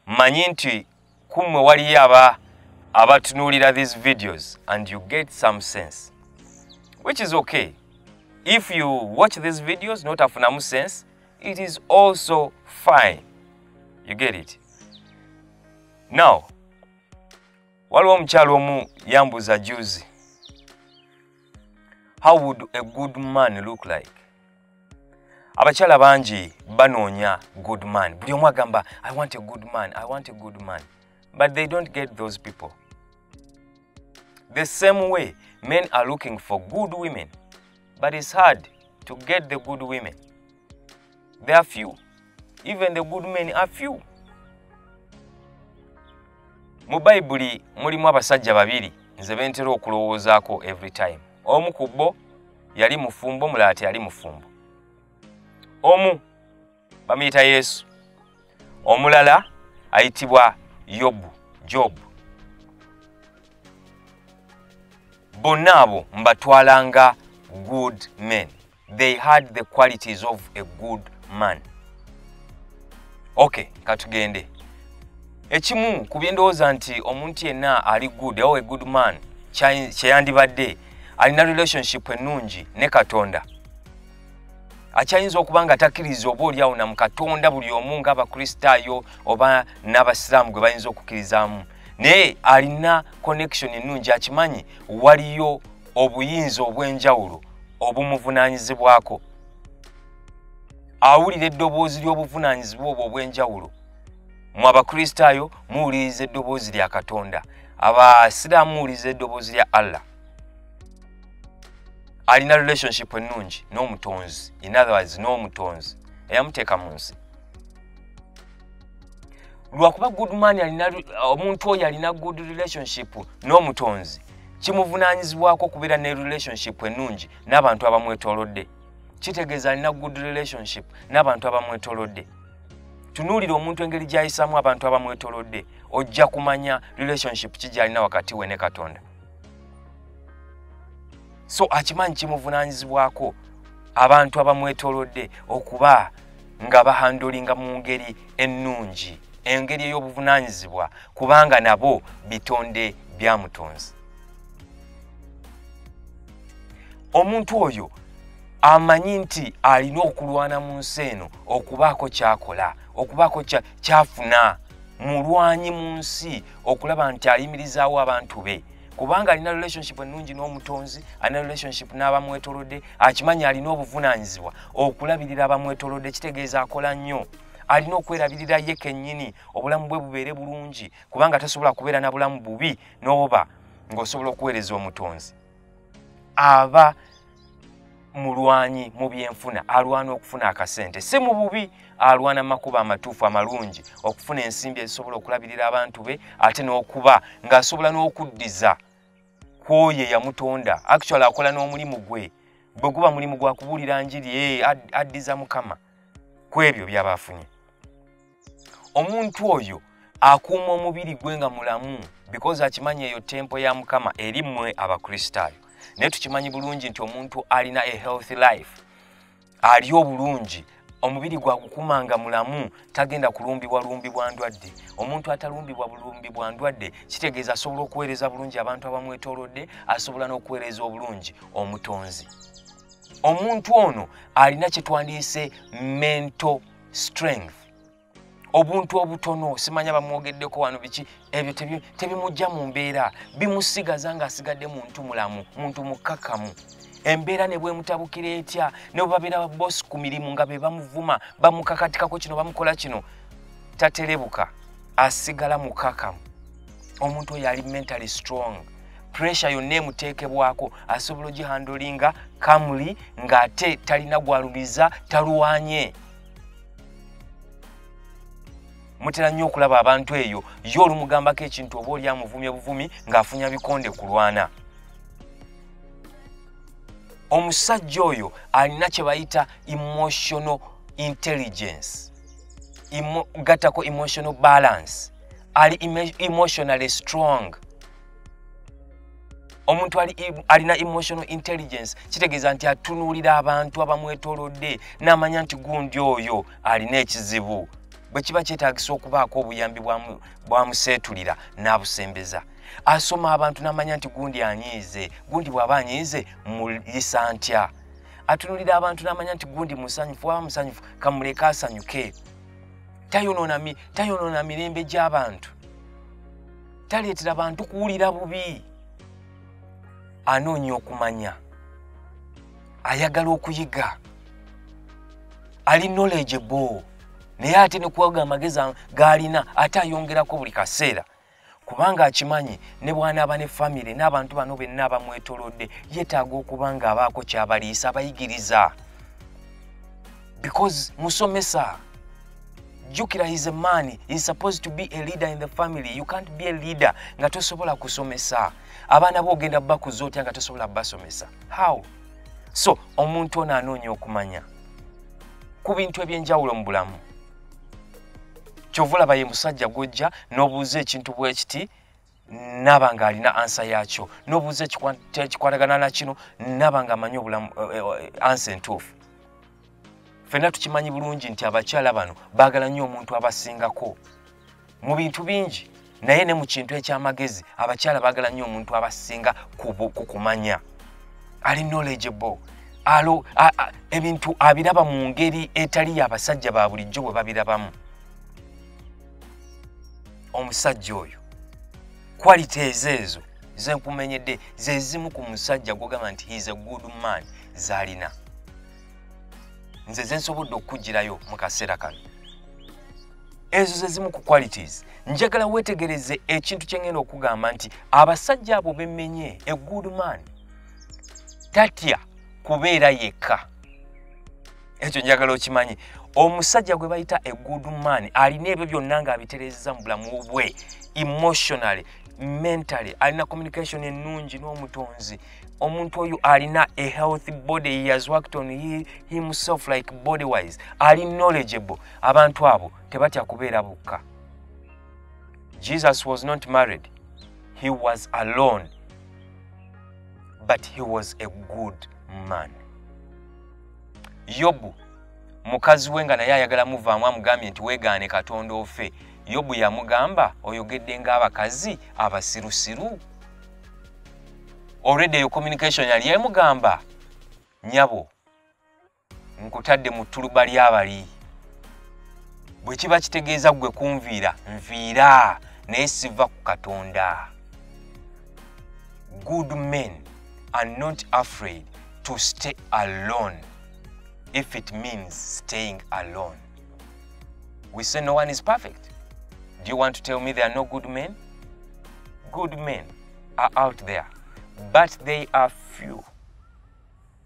manyi nti kummwe waliyo aba abatunuulira these videos and you get some sense which is okay if you watch these videos notafunamu sense it is also fine you get it now waliwo omukyalo omu yambuza juzi how would a good man look like abakyala bangi banoonya good man buli omu agamba i want a good man i want a good man but they don't get those people the same way men are looking for good women but it's hard to get the good women they are few even the good men are few mu bayibuli mulimu abasajja babiri nze bentera okulowoozaako every time omu ku bo yali mufumbo omulala teyali mufumbo omu bamuyita yesu omulala ayitibwa yobu jobu bonna abo mbatwala nga good men they had the qualities of a good man okay katugende ekimu ku byendowooza nti omuntu yenna ali good ow a good man kyeyandibadde alina relationship ennungi ne katonda akyayinza okuba nga takkiriza oba oli awo na mu katonda buli omu ngaabakristaayo oba n'abasiraamu gwe bayinza okukkirizamu naye alina connection ennungi akimanyi waliyo obuyinza obw'enjawulo obumuvunaanyizibwako awulira eddoboozi ly'obuvunaanyizibwa obwo obw'enjawulo mu abakristaayo muwuliriza eddoboozi lya katonda abasiraamu muwuliriza eddoboozi lya allah alina relationship ennungi n'omutonzi in otherwise n'omutonzi eyamuteeka mu nsi lwakuba goodman alina omuntu oyo alina good relationship n'omutonzi kimuvunaanyizibwako okubeera ne relationship ennungi n'abantu abamwetolodde kitegeeza alina good relationship n'abantu abamwetolodde tunuulira omuntu engeri gy'ayisaamu abantu abamwetolodde ojja kumanya relationship ki gy'alina wakati we ne katonda so akimanyi kimuvunaanyizibwako abantu abamwetolodde okuba nga bahandulinga mu ngeri ennungi engeri ey'obuvunaanyizibwa kubanga nabo bitonde bya mutonzi omuntu oyo amanyi nti alina okulwana mu nsi eno okubaako kyakola okubaako kyafuna mulwanyi mu nsi okulaba nti ayimirizaawo abantu be kubanga alina relationship ennungi n'omutonzi alina relationship n'abamwetolodde akimanyi alina obuvunaanyizibwa okulabirira abamwetolodde kitegeeza akola nnyo alina okwerabirira ye kennyini obulamu bwe bubeere bulungi kubanga tasobola kubeera na bulamu bubi n'oba ng'osobola okuweereza omutonzi aba mulwanyi mu byenfuna alwana okufuna akasente si mu bubi alwana makuba amatuufu amalungi okufuna ensimbi ezisobola okulabirira abantu be ate n'okuba ng'asobola n'okuddiza kwoyo eyamutonda actual akola n'omulimu gwe bwe guba mulimu gwa kubuulira njiri e addiza mukama ku ebyo byaba afunye omuntu oyo akuuma omubiri gwe nga mulamu because akimanyi eyo tempo ya mukama eri mmwe abakristaayo naye tukimanyi bulungi nti omuntu alina a healthy life ali obulungi omubiri gwakukuuma nga mulamu tagenda kulumbibwa lumbi bwa ndwadde omuntu atalumbibwa bulumbi bwa ndwadde kitegeeza asobola okuweereza bulungi abantu abamwetoolodde asobola n'okuweereza obulungi omutonzi omuntu ono alina kye twandiyise mental strength obuntu obutono simanya bamwogeddeko wano biki ebyo tebimujja mu mbeera bimusigaza ng'asigadde muntu mulamu muntu mukkakamu embeera ne bwemutabukira etya ne bwebabeera babosi ku mirimu nga be bamuvuma bamukakatikako kino bamukola kino taterebuka asigala mukakamu omuntu oyo ali mentally strong pressure yonna emuteekebwako asobola ogihandolinga kamuli ng'ate talina gwalumiza talwanye mutera nnyo okulaba abantu eyo ye olumugambako ekintu oba oli amuvumye buvumi ng'afunya bikonde kulwana omusajja oyo alina kye bayita emotional intelligence gattako emotional balance ali emotionally strong omuntu alina emotional intelligence kitegeeza nti atunuulira abantu abamwetolodde n'amanya nti gundi oyo alina ekizibu bwe kiba kyetagisa okubaako obuyambi bwamuseetulira n'abusembeza asoma abantu n'amanya nti gundi anyiize gundi bw'aba anyiize muyisa ntya atunulira abantu n'amanya nti gundi musanyufu waba musanyufu kamuleke asanyuke tayonona tayonona mirembe gy'abantu taleetera bantu kuwulira bubi anoonya okumanya ayagala okuyiga ali knowledge bo naye ate nekuwaga amagezi gaalina ate ayongerako buli kaseera kubanga akimanyi ne bwanaaba ne famire n'abantu bano benna abamwetolodde yetaaga okuba nga abaako kyabaliisa abayigiriza because musomesa jukira his a man is supposed to be a leader in the family you can't be a leader nga tosobola kusomesa abaana bo ogenda bakuza otya nga tosobola basomesa how so omuntu ono anoonya okumanya ku bintu eby'enjawulo mu bulamu kyova olaba ye musajja gwojja n'obuuza ekintu bwekiti naba nga alina ansa yakyo n'obuuza ekikwatagana nakino naba nga amanyi obulamu eh, eh, ansa entuufu fenna tukimanyi bulungi nti abakyala bano baagala nnyo omuntu abasingako mu bintu bingi naye ne mu kintu eky'amagezi abakyala baagala nnyo omuntu abasinga ku kumanya ali knowledgeable alo ebintu abiraba mu ngeri etali y'abasajja ba bulijjo bwe babirabamu omusajja oyo kwalite ezo ezo zenkumenyedde zezimu ku musajja gwogamba nti heis a good man zalina nze zensobodde okukugirayo mu kaseera kano ezo ze zimu ku qualities njagala wetegereze ekintu kyengenda okugamba nti abasajja abo bemenye a good man tatya kubeera yekka ekyo njagala okimanyi omusajja gwe bayita a good man alina ebyo byonna nga abiterezeza mu bulamu bwe emotionally mentally alina communication ennungi n'omutonzi omuntu oyo alina a healthy body he has worked on himself like body wise ali knowledgeable abantu abo tebatya kubeera bokka jesus was not married he was alone but he was a good man yobu mukazi we nga naye ayagala muvaamu amugambye nti wegaane katonda ofe yobu yamugamba oyogedde ngaabakazi abasirusiru olwedde eyo communication yali emugamba nyabo nkutadde mu ttuluba ly'abali bwe kiba kitegeeza ggwe kunviira nviira naye siva ku katonda good men are not afraid to stay alone if it means staying alone we say no one is perfect do you want to tell me there are no good men good men are out there but they are few